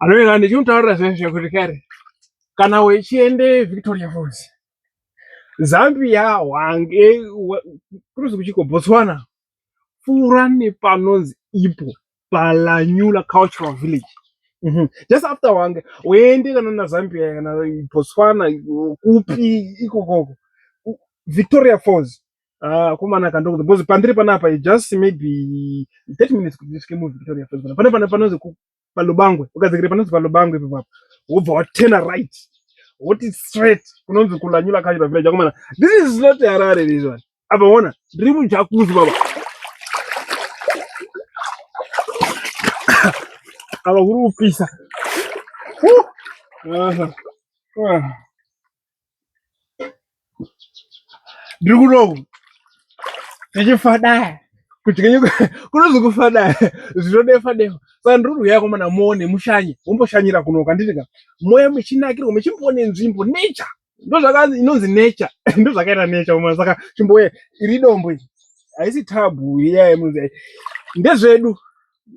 anoenda ndichimutaurira zvinhu zvekuti kare kana wechiende victoria falls zambia wange kuruzi kuchiko botswana pfuura nepanonzi ipo palanyula cultural village mhm. just after wange uende kana nazambia kana botswana kupi ikokoko victoria falls Ah, kumana kandoku because pandiri panapa it just maybe 30 minutes kuti ndisvike mu Victoria Falls pana pane pane panonzi ku- palubangwe ukadzikira panonzi palubangwe ipapo apo wobva watena right woti straight kunonzi kulanyula kanyura village akomana this is not harare this one apa ona ndiri mujakuzi baba apa kuri kupisa Woo! Aha. Ah. ndiri kuno ndichifadaya kuti kenyu kunozokufadaya zvinodefa defa saka ndiri kuuya komana muone mushanye womboshanyira kuno kanditi ka moya michinakirwa michimboone nzvimbo nature ndozvakanzi inonzi nature ndozvakaita nature komana saka chimboye iri dombo iri haisi tabhu iya yemunzi ndezvedu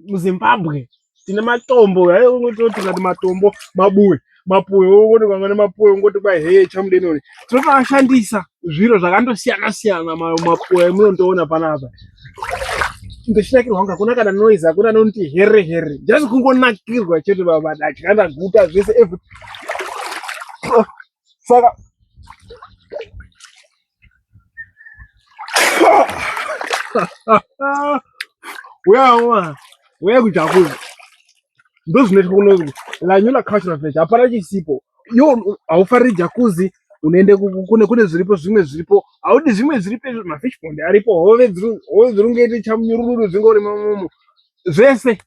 muzimbabwe tine matombo ayototikati matombo mabuwe mapuwe wongoti kwanga nemapuwe wongoti kwai heye chamudenoni tinotoashandisa zviro zvakandosiyana siyana mapuwe emunondiona panapa ndichinakirwa kunge hakuna kana noise hakuna anonoti here here just kungonakirwa chete baba datya ndaguta zvese every saka uyawa uya kujakuza ndozvinoitwa kuno lanyula cultural village hapana chisipo yo haufariri jakuzi unoende kune kune zviripo zvimwe zviripo haudi zvimwe zviripo izvo mafish pond aripo hove dziri ungaite chamunyurururu dzinge uri mamomo zvese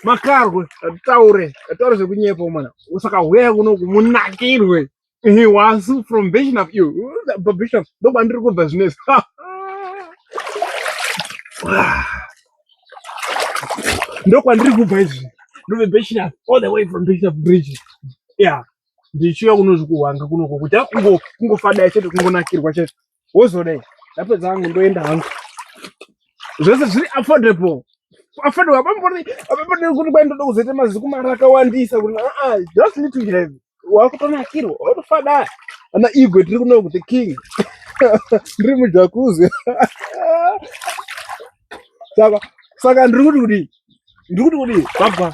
makarwe taure taure zvekunyepa mwana saka huyai kuno kumunakirwe He was from Vision of You. But Vision, no one look at business. No one look at business. No the Vision all the way from Vision of Bridge. Yeah. Ndichiuya kunozvikuhwanga kunoko kuti kungo kungofada chete kungonakirwa chete. wozodei ndapedza hangu ndoenda hangu zvese zviri affordable affordable apambori apambori kuti kwai ndoda kuzoita maziku mari akawandisa kuti aa just need to have wakutonakirwa watofadaya ana igwe tiri kuno kuti king ndiri mujakuzi saka saka ndiri kuti kudii ndiri kuti kudii baba